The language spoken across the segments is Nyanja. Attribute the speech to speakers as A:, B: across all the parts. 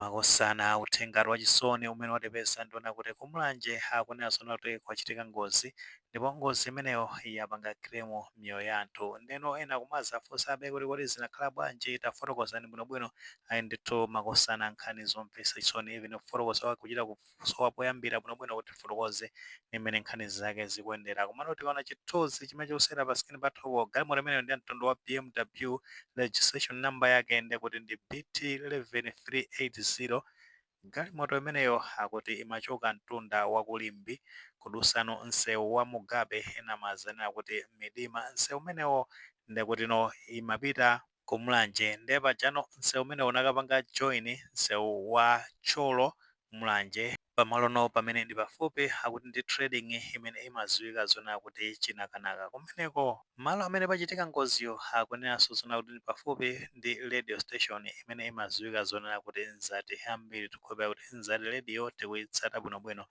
A: Makosana, uthengatu wachisoni umene watipeza ndiona kuti ku Mulanje akunena zoona kuti kwachitika ngozi ndipo ngozi imeneyo yapanga claim miyoyo ya anthu ndeno ena kumazafunsabe kuti kodi zinakhala bwanji tafotokozani bwinobwino ayi ndithu makosana nkhani zomvesa chisoni even kufotokoza kwake kuchita ku sowa poyambira bwinobwino kuti tifotokoze ndi mmene nkhani zake zikuyendera. Komano tikaona chithunzi chimene chikusewera pa screen pathupo, galimoto imeneyo ndi ya mtundu wa BMW, registration number yake ndi kuti ndi BT 11380. Galimoto imeneyo akuti imachoka mtunda wa ku Limbe kudusano msewu wa Mugabe, ena amazanena kuti Midima. Msewu umenewo nde kutino imapita. ku Mulanje nde pajano nseu umenewo unakapanga join nseu wa Thyolo Mulanje pamalono pamene ndi pafupi akuti ndi trading imene imaziwika zonena kuti Chinakanaka kumeneko malo amene pachitika ngoziyo akunenaso zona kuti ndi pafupi ndi radio station imene imaziwika zonena kuti Mzati ambiri tikukhulupilira kuti Mzati radio tikuyitsata bwinobwino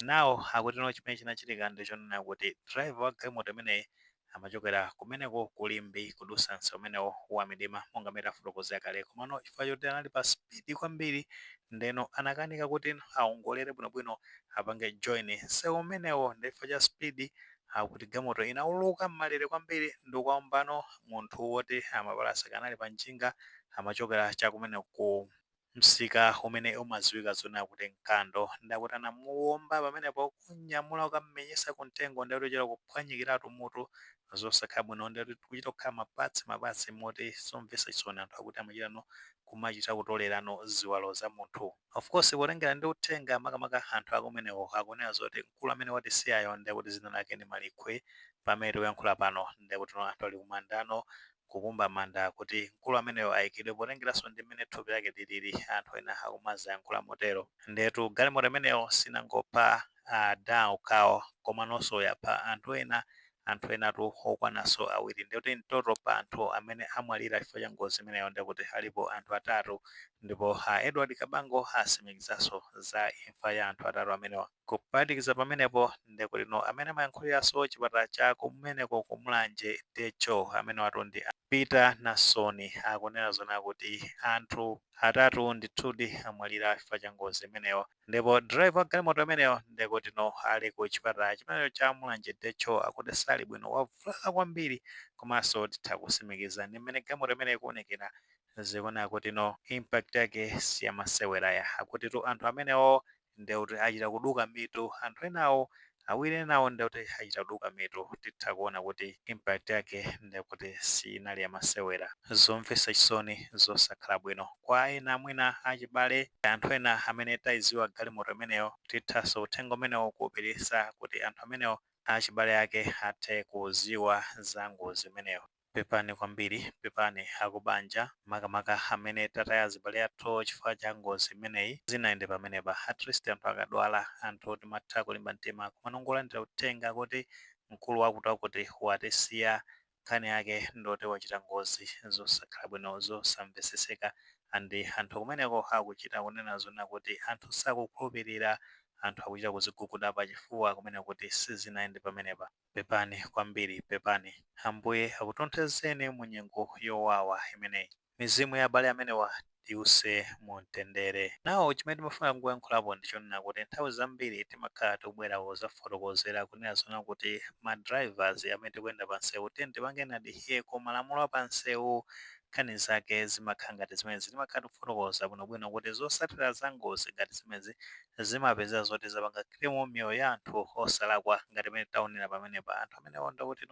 A: now akutino chimene chinachitika ndichonena kuti driver wa galimoto imeneyi amachokera kumeneko ku Limbe kudusa mseu umenewo wa Midima monga mmene tafotokozera kale komano chifukwa choti anali pa speed kwambiri ndeno anakanika kuti awongolere bwinobwino apange join nseu umenewo nde chifukwa cha speed akuti galimoto inauluka mmalere kwambiri ndikukaombano munthu woti amapalasa kanali pa njinga amachokera chakumeneko ku msika umene umadziwika zonena kuti Nkando, ndiye kuti anamuwomba pamenepo kum'nyamula kukam'menyetsa kumtengo, ndiye kuti kuchita kuphwanyikiratu mutu, zosakhala bwino, ndiye kuti kuchita kukhala ma parts ma parts moti zomvetsa chisoni anthu akuti amachitano kumachita kutolerano ziwalo za munthu. Of course potengera ndi uthenga makamaka anthu akumeneko akunena zoti mkulu amene watisiyayo ndiye kuti dzina lake ndi Malikhwe, pamene tikuyankhula pano ndiye kutino anthu ali kumandano kukumba manda kuti mkulu ameneyo aikidwe potengeranso ndi mmene thupi lake lilili, anthu ena akumazayankhula motero. Ndiyetu galimoto imeneyo sinangopha adha okhawo komanonso yapha anthu ena, anthu enatu okwananso awiri. Ndiye kuti in total pa anthu amene amwalira chifukwa cha ngozi imeneyo ndiye kuti alipo anthu atatu ndipo a Edward Kabango atsimikizanso za imfa ya anthu atatu amenewa. Kuphatikiza pamenepo, nde kutino amene amayankhuliraso chipatala cha kumeneko ku Mulanje, DHO, amenewatu ndi a Peter Nasoni, akunena zoona kuti anthu atatu ndithudi amwalira chifukwa cha ngozi imeneyo ndipo driver wa galimoto imeneyo nde kutino ali ku chipatala chimenecho cha Mulanje DHO akuti sali bwino wavulala kwambiri komaso titha kusimikiza ndi mmene galimoto imeneyo ikuonekera zikuoneka kutino impact yake siyamasewera ya akutitu anthu amenewo ndiye kuti achita kuduka mitu anthu enawo awiri enawo ndiye kuti achita kuduka mitu titha kuona kuti impact yake ndiye kuti siinali yamasewera zomvetsa chisoni zosakhala bwino kwa ena mwina achibale anthu ena amene tayiziwa galimoto imeneyo tithaso uthenga umenewo kuwupitisa kuti anthu amenewo achibale ake athe kuziwa za ngozi imeneyo. Pepani kwambiri, pepani akubanja, makamaka amene tataya azibale athu chifukwa cha ngozi imeneyi. Sizinayende pamenepa. At least anthu akadwala, anthu timatha kulimba mtima. Komano kungolandira uthenga kuti mkulu wakutiwakuti watisiya, nkhani yake ndiyoti wachita ngozi. Zosakhala bwino, zosamveseseka and anthu kumeneko akuchita kunena zoona kuti anthu sakukhulupirira, anthu akuchita kuziguguda pachifuwa kunena kuti sizinayende pamenepa. Pepani kwambiri, pepani. Ambuye akutonthozeni mu nyengo yowawa imeneyi. Mizimu ya abale amenewa iwuse mu mtendere. Now chimene timafuna kungoyankhulapo ndi chonena kuti nthawi zambiri timakhala tikubwera kuzafotokozera kunena zoona kuti ma drivers amene tikuyenda pa nsewu tiyeni tipangeni adhere ku malamulo a pa nsewu. Nkhani zake zimakhala ngati zimenezi. Timakhala tikufotokoza bwinobwino kuti zotsatira za ngozi ngati zimenezi zimapezeka zoti zapanga claim miyoyo ya anthu osalakwa ngati mene taonera pamenepa anthu amenewo ndiye kuti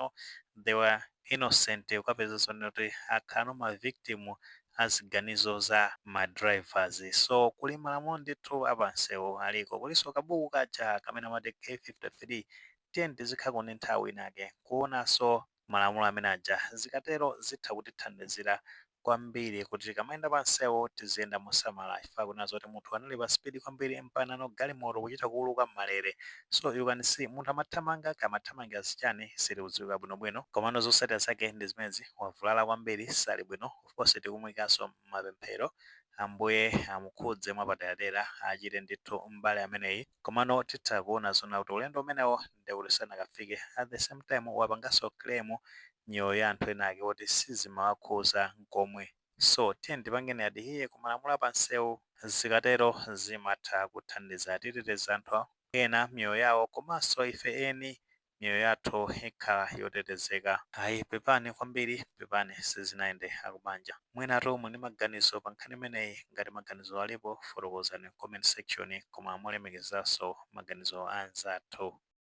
A: they were innocent ukapeza zoona kuti akhalano ma victim a ziganizo za ma drivers so kuli malamulo ndithu apansewu aliko kulinso kabuku kaja kamene amati k53 tiyeni tizikhala ndi nthawi inake kuonanso malamulo amene aja. Zikatero zitha kutithandizira kwambiri kuti tikamayenda pansewu tiziyenda mosamala chifukwa akunena zoti munthu anali pa speed kwambiri mpakana galimoto kuchita kuuluka m'malere so you can see munthu amathamanga kaya amathamangira zichani sizikudziwika bwinobwino komano zotsatira zake ndi zimenezi wavulala kwambiri sali bwino of course tikumuikanso m'mapemphero Ambuye amukhudze mwapaderadera achire ndithu m'bale ameneyi. komano titha kuona zoona kuti ulendo umenewo ndiye kuti sanakafike at the same time wapanganso claim miyoyo ya anthu ena ake oti sizimawakhuza nkomwe so tiyeni tipangeni adhere ku malamulo a pansewu zikatero zimatha kuthandiza titeteza anthu ena miyoyo yawo komanso ife eni miyoyo yathu ikhala yotetezeka. Ayi pepani kwambiri pepani sizinayende akubanja mwinatu muli ndi maganizo pa nkhani imeneyi ngati maganizo alipo fotokozani m'comment section koma molemekezaso maganizo a anzathu.